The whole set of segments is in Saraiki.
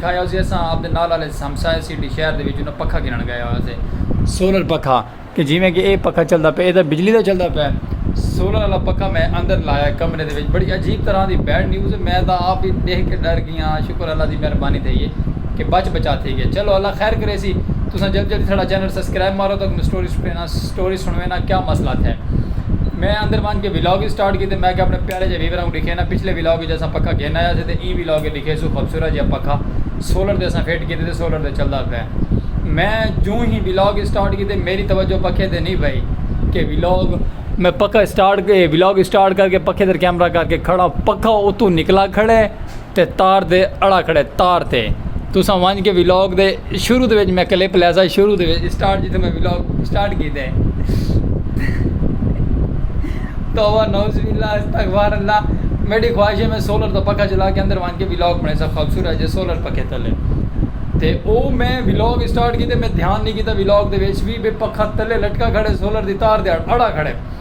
کھایا ہوسی اساں اپنے نال آلے ہمسائے سٹی شہر دے وچ انہاں پکھا گھنن گئے ہویا سے۔ سولر پکھا کہ جیویں کہ اے پکھا چلدا پئے اے تاں بجلی دا چلدا پئے۔ سولر آلا پکھا میں اندر لایا کمرے دے وچ بڑی عجیب طرح دی بیڈ نیوز میں تاں آپ ہی ڈیکھ کے ڈر گیاں شکر اللہ دی مہربانی تھئی اے کہ بچ بچا تھئی گئے چلو اللہ خیر کریسی تساں جلدی جلدی ساڈا چینل سبسکرائب مارو تاکہ سٹوری سٹوری نہ سٹوری سنویں نا کیا مسئلہ تھے۔ میں اندر ونج کے ولاگ وی سٹارٹ کیتے میں کہیا اپنے پیارے جے ویورا کوں ڈکھینا پچھلے ولاگ وچ اساں پکھا گھن آیا سے تے ایں ولاگ وچ ڈکھیسوں خوبصورت جیہا پکھا سولر تے اساں فٹ کیتے تے سولر تے چلدا پئے میں جوں ہی ولاگ وی سٹارٹ کیتے میری توجہ پکھے تے نہیں پئی کہ ولاگ میں پکھا سٹارٹ ولاگ سٹارٹ کر کے پکھے تے کیمرہ کر کے کھڑا پکھا اتوں نکلا کھڑے۔ تے تار دے اڑا کھڑے تار تے تساں ونج کے ولاگ دے شروع دے وچ میں کلپ لیسا شروع دے وچ سٹارٹ جتھے میں ولاگ سٹارٹ کیتے ہیں توبہ نوز باللہ استغفار اللہ میری خواہش ہے میں سولر دا پکا چلا کے اندر ونج کے ولاگ بنے سا خوبصورت جے سولر پکے تلے تے او میں ولاگ سٹارٹ کیتے میں دھیان نہیں کیتا ولاگ دے وچ بھی بے پکا تلے لٹکا کھڑے سولر دی تار دے اڑا کھڑے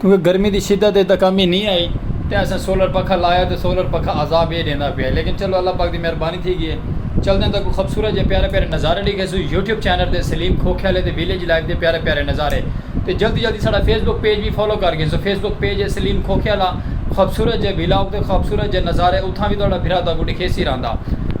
کیونکہ گرمی دی شدت اچ تاں کمی نی آئی تے اساں سولر پکھا لایا تے سولر پکھا عذاب اے ڈیندا پیا اے لیکن چلو اللہ پاک دی مہربانی تھی گی اے چلدیں تاں کوئی خوبصورت جئے پیارے پیارے نظارے ڈیکھیسوں یوٹیوب چینل تے سلیم کھوکھیالے دے ویلیج لائف دے پیارے پیارے نظارے تے جلدی جلدی ساڈا فیس بک پیج وی فالو کر گھنسوں فیس بک پیج اے سلیم کھوکھیالہ خوبصورت جئے ویلاگ تے خوبصورت جئے نظارے اتھاں وی تہاڈا بھرا تہاکوں ڈیکھیسی رہندا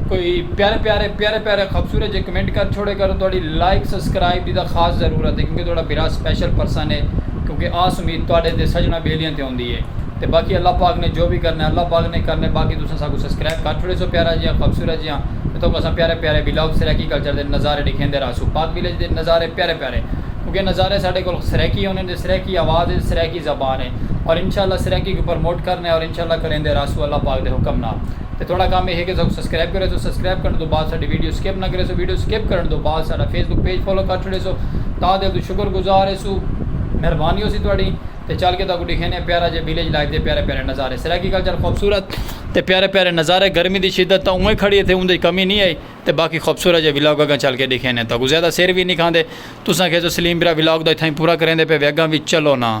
کوئی پیارے پیارے پیارے پیارے خوبصورت جئے کمنٹ کر چھوڑے کرو تہاڈی لائک سبسکرائب دی تاں خاص ضرورت اے کیونکہ تہاڈا بھرا سپیشل پرسن اے۔ کیونکہ آس امید تہاڈے تے سجناں بیلیاں تے ہوندی ہے تے باقی اللہ پاک نے جو وی کرنا ہے اللہ پاک نے کرنا ہے باقی تساں ساکوں سبسکرائب کر چھوڑیسو پیارا جیہاں خوبصورت جیہاں تے تہاکوں اساں پیارے پیارے ولاگ سرائیکی کلچر دے نظارے ڈکھیندے رہسوں پاک ویلیج دے نظارے پیارے پیارے کیونکہ نظارے ساڈے کول سرائیکی ہوندے تے سرائیکی آواز ہے تے سرائیکی زبان ہے اور انشاءاللہ سرائیکی کوں پرموٹ کرنا ہے اور انشاءاللہ کریندے رہسوں اللہ پاک دے حکم نال۔ تے تہاڈا کم ایہے کہ ساکوں سبسکرائب کریسو سبسکرائب کرݨ توں بعد ساڈی ویڈیو سکپ نہ کریسو ویڈیو سکپ کرݨ توں بعد ساڈا فیس بک پیج فالو کر چھوڑیسو تاں دل توں شکر گزار ہیسو مہربانی ہوسی تہاڈی تے چل کے تہاکوں ڈکھینے آں پیارا جیہا ویلیج لائف دے پیارے پیارے نظارے سرائیکی کلچر خوبصورت تے پیارے پیارے نظارے گرمی دی شدت تاں اونویں کھڑی ایتھے اوندے وچ کمی نی ہئی تے باقی خوبصورت جیہا ولاگ اگاں چل کے ڈکھینے آں تہاکوں زیادہ سر وی نی کھاندے تساں کھیسو سلیم بھرا ولاگ دا اتھائیں پورا کریندے پئے وے اگاں وی چلو نا۔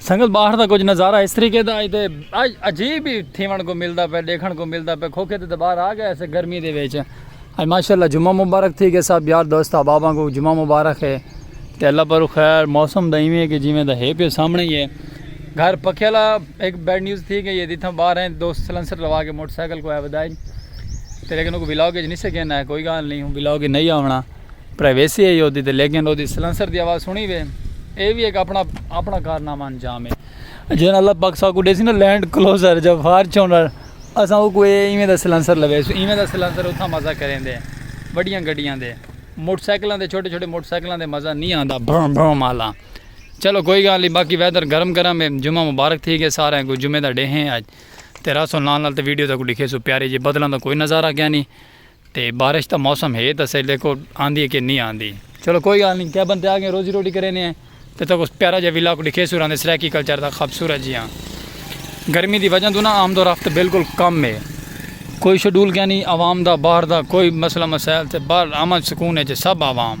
سنگت باہر دا کچھ نظارہ اس طریقے دا ایتے عجیب ہی تھیون کو ملدا پے دیکھن کو ملدا پے کھوکھے تے باہر آ گئے اسے گرمی دے وچ اج ماشاءاللہ جمعہ مبارک تھی گئے صاحب یار دوست احباباں کو جمعہ مبارک ہے تے اللہ پر خیر موسم دا ایویں کہ جویں دا ہے پے سامنے ہی ہے گھر پکے والا ایک بیڈ نیوز تھی گئی ہے جتھاں باہر ہیں دوست سلنسر لوا کے موٹر سائیکل کو ہے ودائی تے لیکن کو ولاگ وچ نہیں سکے نہ کوئی گال نہیں ہوں ولاگ نہیں آونا پرائیویسی ہے یودی تے لیکن اودی سلنسر دی آواز سنی وے اے وی ایک اپنا اپنا کارنامہ انجام ہے جینا اللہ پاک ساکو ڈیسی نا لینڈ کلوزر جا فارچونر اساں او کوئی ایویں دا سلنسر لوے سو ایویں دا سلنسر اتھا مزہ کریں دے بڑیاں گڈیاں دے موٹر سائیکلاں دے چھوٹے چھوٹے موٹر سائیکلاں دے مزہ نہیں آندا بھرم بھرم مالا چلو کوئی گال نہیں باقی ویدر گرم گرم ہے جمعہ مبارک تھی گئے سارے کو جمعہ دا ڈے ہیں اج تے راسو نال نال تے ویڈیو تک لکھے سو پیارے جی بدلاں دا کوئی نظارہ کیا نہیں تے بارش دا موسم ہے تاں اساں ڈیکھو آندی ہے کہ نی آندی۔ چلو کوئی گالھ نی کیبن تے آ گئے روزی روٹی کرینے ہیں تے تہاکوں اس پیارا جیہا ولاگ ڈکھیسوں راندے سرائیکی کلچر دا خبصورت جیہا گرمی دی وجہ توں نا آمد و رفت بالکل کم ہے کوئی شیڈول کینی عوام دا باہر دا کوئی مسئلہ مسائل تے باہر امن سکون اچ ہے سب عوام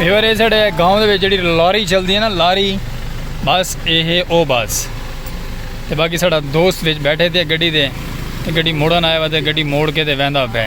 یار یہ ساڑھے گاؤں دے جڑی لاری چلدی ہے نا لاری بس یہ ہے او بس تے باقی ساڑھا دوست وچ بیٹھے تھے گڑی دے گڑی موڑن آئے وے گڑی موڑ کے دے ویندا پہ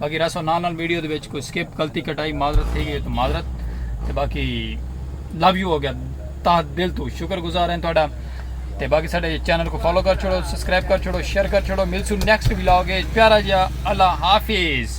باقی راسو نال نال ویڈیو دے وچ کوئی سکپ غلطی کٹائی معذرت تھی گئی تو معذرت تے باقی لو یو ہو گیا تا دل تو شکر گزار ہیں تہاڈا تے باقی ساڈے چینل کو فالو کر چھوڑو سبسکرائب کر چھوڑو شیئر کر چھوڑو ملسو نیکسٹ ولاگ پیارا جیا اللہ حافظ